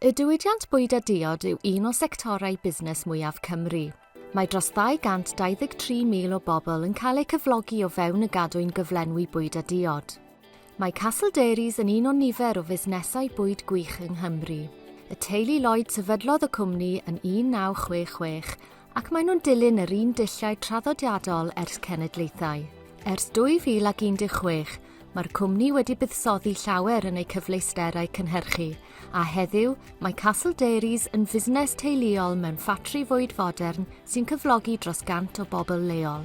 Y diwydiant bwyd a diod yw un o sectorau busnes mwyaf Cymru. Mae dros 223,000 o bobl yn cael eu cyflogi o fewn y gadwyn gyflenwi bwyd a diod. Mae Castle Dairies yn un o nifer o fusnesau bwyd gwych yng Nghymru. Y teulu Lloyd sefydlodd y cwmni yn 1966 Ac maen nhw'n dilyn yr un dulliau traddodiadol ers cenedlaethau. Ers 2016, mae'r cwmni wedi buddsoddi llawer yn eu cyfleusterau cynhyrchu, a heddiw, mae Castle Dairies yn fusnes teuluol mewn ffatri fwyd fodern sy'n cyflogi dros 100 o bobl leol.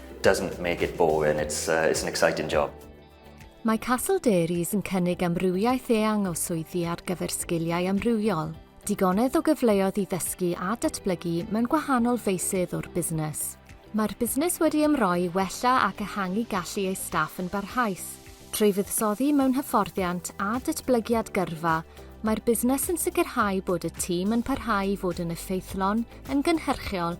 doesn't make it boring, it's uh, it's an exciting job. Mae Castle Dairies yn cynnig amrywiaeth eang o swyddi ar gyfer sgiliau amrywiol, digonedd o gyfleoedd i ddysgu a datblygu mewn gwahanol feysydd o'r busnes. Mae'r busnes wedi ymroi i wella ac ehangu gallu ei staff yn barhaus. Trwy fuddsoddi mewn hyfforddiant a datblygiad gyrfa, mae'r busnes yn sicrhau bod y tîm yn parhau i fod yn effeithlon, yn gynhyrchiol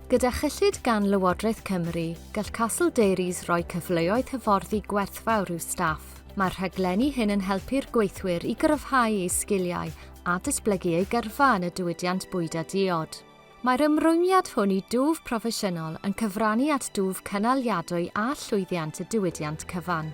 Gyda chyllid gan Lywodraeth Cymru, gall Castle Dairies roi cyfleoedd hyfforddi gwerthfawr i'w staff. Mae'r rhaglenni hyn yn helpu'r gweithwyr i gryfhau eu sgiliau a datblygu eu gyrfa yn y diwydiant bwyd a diod. Mae'r ymrwymiad hwn i dwf proffesiynol yn cyfrannu at dwf cynaliadwy a llwyddiant y diwydiant cyfan.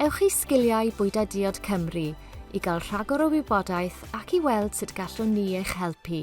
Ewch i Sgiliau Bwyta Diod Cymru i gael rhagor o wybodaeth ac i weld sut gallwn ni eich helpu.